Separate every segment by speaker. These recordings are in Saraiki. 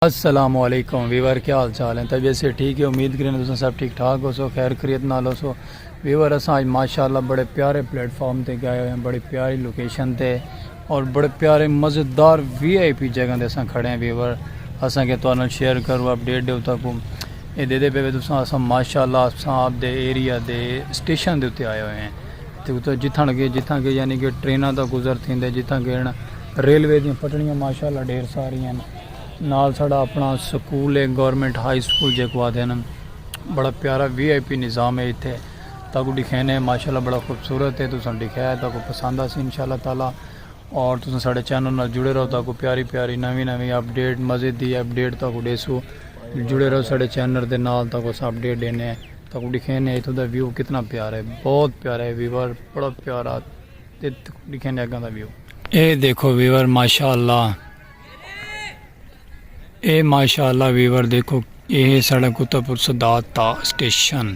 Speaker 1: السلام علیکم ویور کیا حال چال ہیں طبیعت سے ٹھیک ہے امید کریں تساں سب ٹھیک ٹھاک ہو سو خیر خریت نال ہو سو ویور اساں اج ماشاءاللہ بڑے پیارے پلیٹ فارم تے گئے ہوئے ہیں بڑی پیاری لوکیشن تے اور بڑے پیارے مزیدار وی آئی پی جگہ تے اساں کھڑے ہیں ویور اساں کے توانا شیئر کرو اپ ڈیٹ دیو تاکو اے دے دے پہ تساں اساں ماشاءاللہ اساں آپ دے ایریا دے سٹیشن دے اتے آئے ہوئے ہیں تے اتو جتھاں کے جتھاں کے یعنی کہ ٹرینہ دا گزر تھیں دے جتھاں کے ریلوے دیں پٹڑیاں ماشاءاللہ ڈھیر ساری ہیں نال ساڑا اپنا سکول ہے گورنمنٹ ہائی سکول جے کو آدھے نا بڑا پیارا وی آئی پی نظام ہے اتھے تاکو ڈکھینے ماشاءاللہ بڑا خوبصورت ہے تساں ڈکھیا ہے تاکو پسند آسی انشاءاللہ تعالی اور تساں ساڑے چینل نال جڑے رہو تاکو پیاری پیاری نوی نوی اپڈیٹ مزید دی اپڈیٹ تاکو ڈیسو جڑے رہو ساڑے چینل دے نال تاکو اس اپڈیٹ دینے ہیں تاکو ڈکھینے اتھو دا ویو کتنا پیارا ہے بہت پیارا ہے ویور بڑا پیارا ڈکھینے اگاں دا ویو اے دیکھو ویور ماشاءاللہ اے ماشاءاللہ ویور دیکھو اے ساڑا کتا پور صدات تا سٹیشن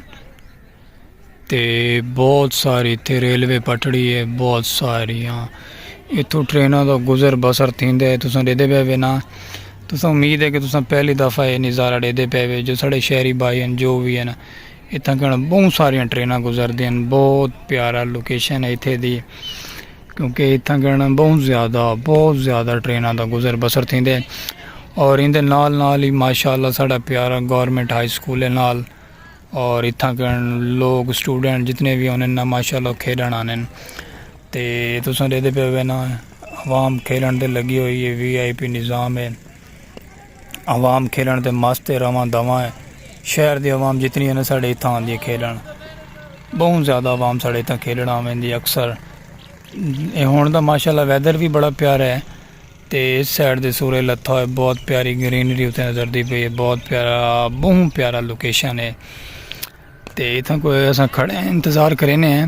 Speaker 1: تے بہت ساری تھے ریلوے پٹڑی ہے بہت ساری ہاں اتھو ٹرینوں دا گزر بسر تھین دے تساں دے دے پہوے نا تساں امید ہے کہ تساں پہلی دفعہ یہ نظارہ دے دے پہوے جو ساڑے شہری بھائی ہیں جو بھی ہیں نا اتھاں کن بہوں ساریاں ٹریناں گزردیاں ہن بہت پیارا لوکیشن ہے اتھے دی کیونکہ اتھاں کن بہت زیادہ بہت زیادہ ٹریناں دا گزر بسر تھیندے اور ایندے نال نال ہی ماشاءاللہ ساڈا پیارا گورنمنٹ ہائی سکول ہے نال اور اتھاں کن لوگ اسٹوڈنٹ جتنے بھی ہونے نا ماشاءاللہ کھیڈن آنے تے تساں ڈیکھدے پے ہوے نا عوام کھیڈن تے لگی ہوئی ہے وی آئی پی نظام ہے عوام کھیلن تے مست ہے رواں دواں ہے شہر دی عوام جتنی ہے نا ساڑے اتھاں آندی ہے کھیلن بہت زیادہ عوام ساڑے اتھاں کھیلن آویندی اکثر اے ہن دا ماشاءاللہ ویدر بھی بڑا پیارا ہے تے اس سائیڈ دے سورے لتھا ہوئے بہت پیاری گرینری اتھے نظر دی پئی ہے بہت پیارا بہت پیارا لوکیشن ہے تے اتھاں کوئی اساں کھڑے ہیں انتظار کرینے ہیں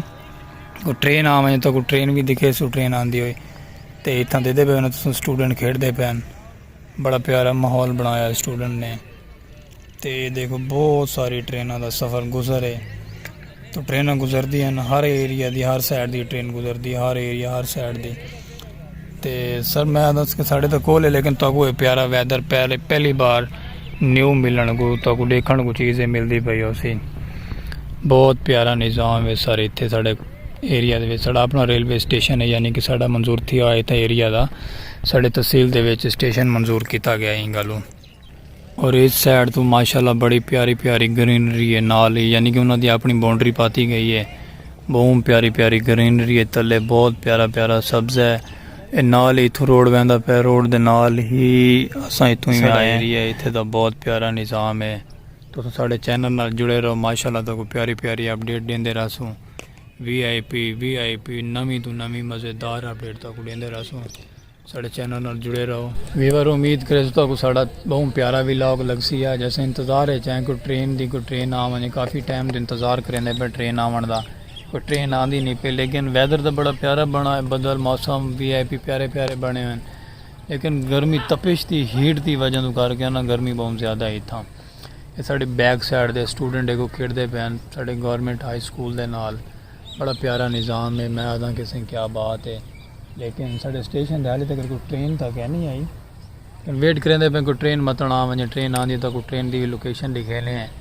Speaker 1: کوئی ٹرین آویں تو کوئی ٹرین بھی دکھے سو ٹرین آندی ہوئی تے اتھاں دے دے پے انہاں سٹوڈنٹ کھیڑ دے پے ہیں بڑا پیارا ماحول بنایا ہے سٹوڈنٹ نے تے دیکھو بہت ساری ٹریناں دا سفر گزر ہے تو ٹریناں گزر دی ہیں ہر ایریا دی ہر سائیڈ دی ٹرین گزر دی ہر ایریا ہر سائیڈ دی تے سر میں دس کے ساڑھے تک کول ہے لیکن تو کوئی پیارا ویدر پہلے پہلی بار نیو ملن کو تو کو دیکھن کو چیزیں مل دی پئی ہو سی بہت پیارا نظام ہے سر اتھے ساڑھے ایریا دے وچ ساڈا اپنا ریلوے سٹیشن ہے یعنی کہ ساڈا منظور تھیا ہویا اتھاں ایریا دا ساڈے تحصیل دے وچ سٹیشن منظور کیتا گیا ایں گالوں اور اس سائڈ تو ماشاءاللہ بڑی پیاری پیاری گرینری ہے نال ہی یعنی کہ انہاں دی اپنی باؤنڈری پاتی گئی ہے بہت پیاری پیاری گرینری ہے تلے بہت پیارا پیارا سبز ہے اے نال ہی تھو روڈ ویندا پہ روڈ دے نال ہی اساں اتھوں ہی آئے ایریا ایتھے دا بہت پیارا نظام ہے تساں ساڈے چینل نال جڑے رہو ماشاءاللہ تہاکوں پیاری پیاری اپ ڈیٹ ڈیندے رہسوں V I P V I P نویں توں نویں مزیدار اپ ڈیٹ تہاکوں ڈیندے رہسوں ساڈے چینل نال جڑے رہو ویور امید کریسوں تہاکوں ساڈا بہوں پیارا ولاگ لگسی اج اساں انتظار اچ ہیں کوئی ٹرین دی کوئی ٹرین آ ونجے کافی ٹائم توں انتظار کریندے پئے ٹرین آوݨ دا کوئی ٹرین آندی نی پئی لیکن ویدر تاں بڑا پیارا بݨا ہوئے بدل موسم وی آئی پی پیارے پیارے بݨے ہوئے لیکن گرمی تپش دی ہیٹ دی وجہ تو کر کے نا گرمی بہت زیادہ ہے اتھاں یہ ساڑے بیک سائڈ دے اسٹوڈنٹ ایک کو کھیڑ دے پین ساڑے گورنمنٹ ہائی سکول دے نال بڑا پیارا نظام ہے میں آدھاں کسے کیا بات ہے لیکن ساڑے اسٹیشن دے حالی تک کوئی ٹرین تک ہے نہیں آئی ویٹ کریں دے پین کوئی ٹرین متن آن ونجے ٹرین آن دی تک کوئی ٹرین دی لوکیشن لکھے لیں ہیں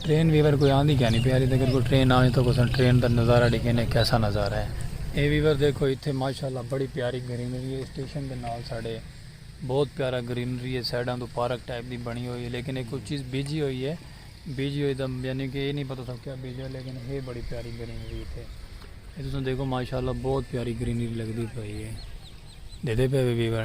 Speaker 1: ٹرین ویور کوئی آندی کینی پی ہالی تکر کوئی ٹرین نہ آوی تاں اساں ٹرین دا نظارہ ڈیکھینے کیسا نظارہ ہے۔ اے ویور دیکھو اتھے ماشاءاللہ بڑی پیاری گرینری ہے اسٹیشن دے نال ساڈے بہت پیارا گرینری ہے سائیڈاں توں پارک ٹائپ دی بنی ہوئی ہے لیکن اے کوئی چیز بیجی ہوئی ہے بیجی ہوئی تاں یعنی کہ اے نی پتہ تھا کیا بیجا لیکن ہے بڑی پیاری گرینری ہے اتھے اے تساں دیکھو ماشاءاللہ بہت پیاری گرینری لگدی پئی ہے دیدھے پے وے ویور۔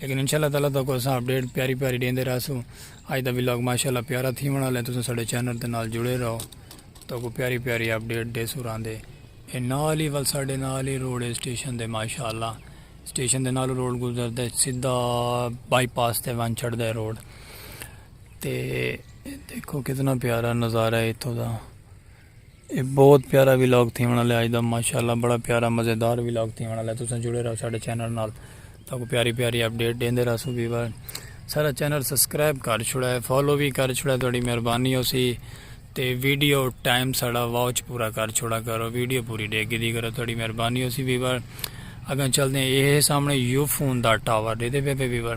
Speaker 1: لیکن انشاء اللہ تعالی تاکو اساں اپڈیٹ پیاری پیاری ڈیندے رہسو اج دا ولاگ ماشاءاللہ پیارا تھی ونا لے تساں ساڈے چینل دے نال جڑے رہو تاکو پیاری پیاری اپڈیٹ دے سوران دے اے نال ہی ول ساڈے نال ہی روڈ اے سٹیشن دے ماشاءاللہ سٹیشن دے نال روڈ گزر دے سیدھا بائی پاس تے ون چھڑ دے روڈ تے دیکھو کتنا پیارا نظارہ ہے اتھوں دا اے بہت پیارا ویلاگ تھیون والا ہے اج دا ماشاءاللہ بڑا پیارا مزیدار ویلاگ تھیون والا ہے تساں جڑے رہو ساڈے چینل نال تاکو پیاری پیاری اپڈیٹ دیندے رہسو ویور سارا چینل سبسکرائب کر چھڑا ہے فالو بھی کر چھڑا ہے تہاڈی مہربانی ہوسی تے ویڈیو ٹائم ساڈا واچ پورا کر چھڑا کرو ویڈیو پوری دیکھ کے دی کرو تہاڈی مہربانی ہوسی ویور اگاں چلدے ہیں اے سامنے یو فون دا ٹاور دیدے پے پے ویور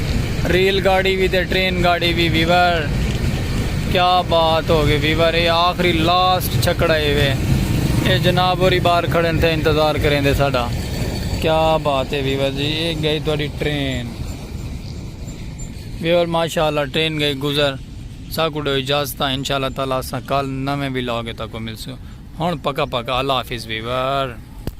Speaker 1: ریل گاڑی وی تے ٹرین گاڑی وی ویور کیا بات ہوگی ویور اے آخری لاسٹ چھکڑا اے وے اے جناب اوری بار کھڑے تھے انتظار کریں دے ساڈا کیا بات اے ویور جی اے گئی تھوڑی ٹرین ویور ماشاءاللہ ٹرین گئی گزر ساکو ڈو اجازت انشاءاللہ تعالی اساں کل نویں ویلاگ تاکو ملسو ہن پکا پکا اللہ حافظ ویور